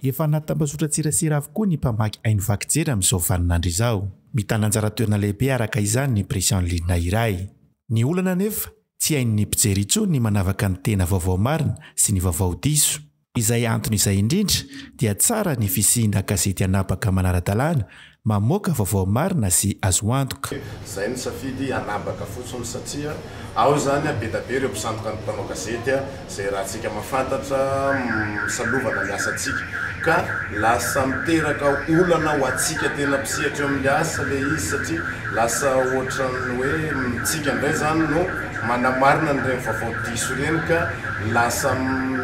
Efa anaty tambazotran-tserasera avokoa ny mpamaky haino vaky jery amin'izao vaninandro izao. Mitana anjara toerana lehibe araka izany ny presse en ligne iray. Ny olana anefa, tsy hain'ny mpijery intsony ny manavaka ny tena vaovao marina sy ny vaovao diso. Izay antony izay indrindra dia tsara ny fisiana gazety anabaka manara-dalàna, mamoaka vaovao marina sy azo antoka. Izay ny safidy anabaka fotsiny satria ao izany bedabe ireo mpisandoka ny mpanao gazety izay ratsika mahafantatra misalovana ny asantsika ka lasa miteraka olana ho antsika tena mpisehatra eo amin'ny asa ilay izy satria lasa ohatran'ny hoe mitsika indray izany no manamarina an'ireny vaovao diso ireny ka Lasa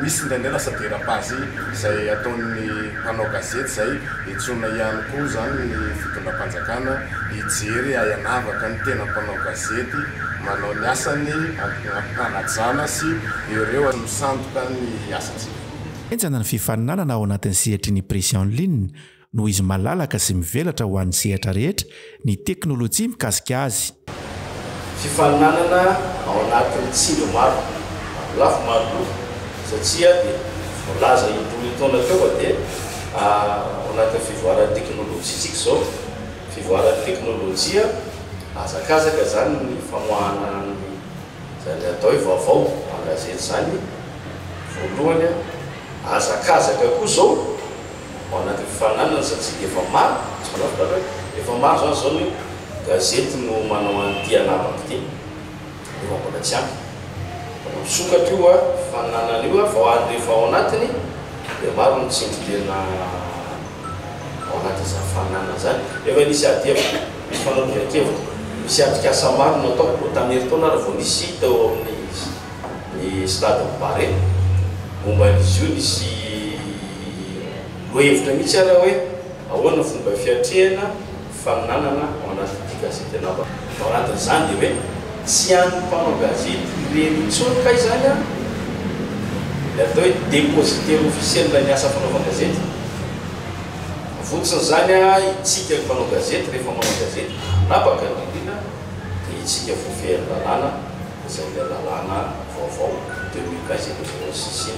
misy indraindray lasa dérapage izay ataon'ny mpanao gazety izay entsoina ihany koa izany ny fitondram-panjakana hijery ahianavaka ny tena mpanao gazety manao ny asany ampitanajana sy ireo misandoka ny asantsika. Henjana ny fifaninanana ao anatin'ny sehatry ny presse en ligne noho izy malalaka sy mivelatra ho an'ny sehatra rehetra ny teknolojia mikasika azy. Fifaninanana ao anatin'ny tsindry maro lafy maro loko satria dia voalaza indroa taona teo fa dia ao anatin'ny fivoaran'ny teknolojia isika izao. Fivoaran'ny teknolojia, hazakazaka izany ny famoahana an'izany atao hoe vaovao an-gazety izany voalohany, hazakazaka koa izao. Ao anatin'ny fifaninanana satria efa maro, tsy fantatrao ve hoe efa maro izany izao ny gazety no manao an'ity anarako ity nefa mbola tsy ampy. Mbola misokatra io fifaninanana io fa hoany rehefa ao anatiny dia maro ny tsindry tena ao anatin'izany fifaninanana izany. Efa nisy adihevitra, nisy fanadihadian-kevitra, nisy atrikasa maro no natao koa tamin'ny herintaona ary vao nisy tao amin'ny ny stade Barea momba an'izy io nisy. Miha-noho hevitra mihitsy aho raha hoe ahoana ny fomba fiatrehana ny faminanana ao anatin'ity gazety anaovako ity. Ao anatin'izany dia hoe tsy an'ny mpanao gazety irery intsony kay izany an! Ilay atao hoe depositaire officiel ny asa fanaovan-gazety. Votsin'izany an, isika mpanao gazety rehefa manao gazety, anabaka ny rindrina, dia isika voafehiny lalàna, izay ilay lalàna vaovao deux mille vingt izay novonoin'ny CC.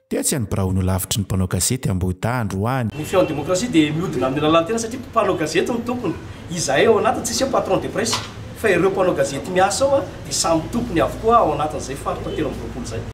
Tetsy any birao no lavitry ny mpanao gazety Ambohidahy androany. Ny feon'ny demokrasia dia mihodina amin'ny lalan-tena satria mpanao gazety no tompony. Izahay ao anatiny tsisy hoe patron de presse fa ireo mpanao gazety miasa ao dia samy tompony avokoa ao anatin'izay faritra telo amby roapolo izay.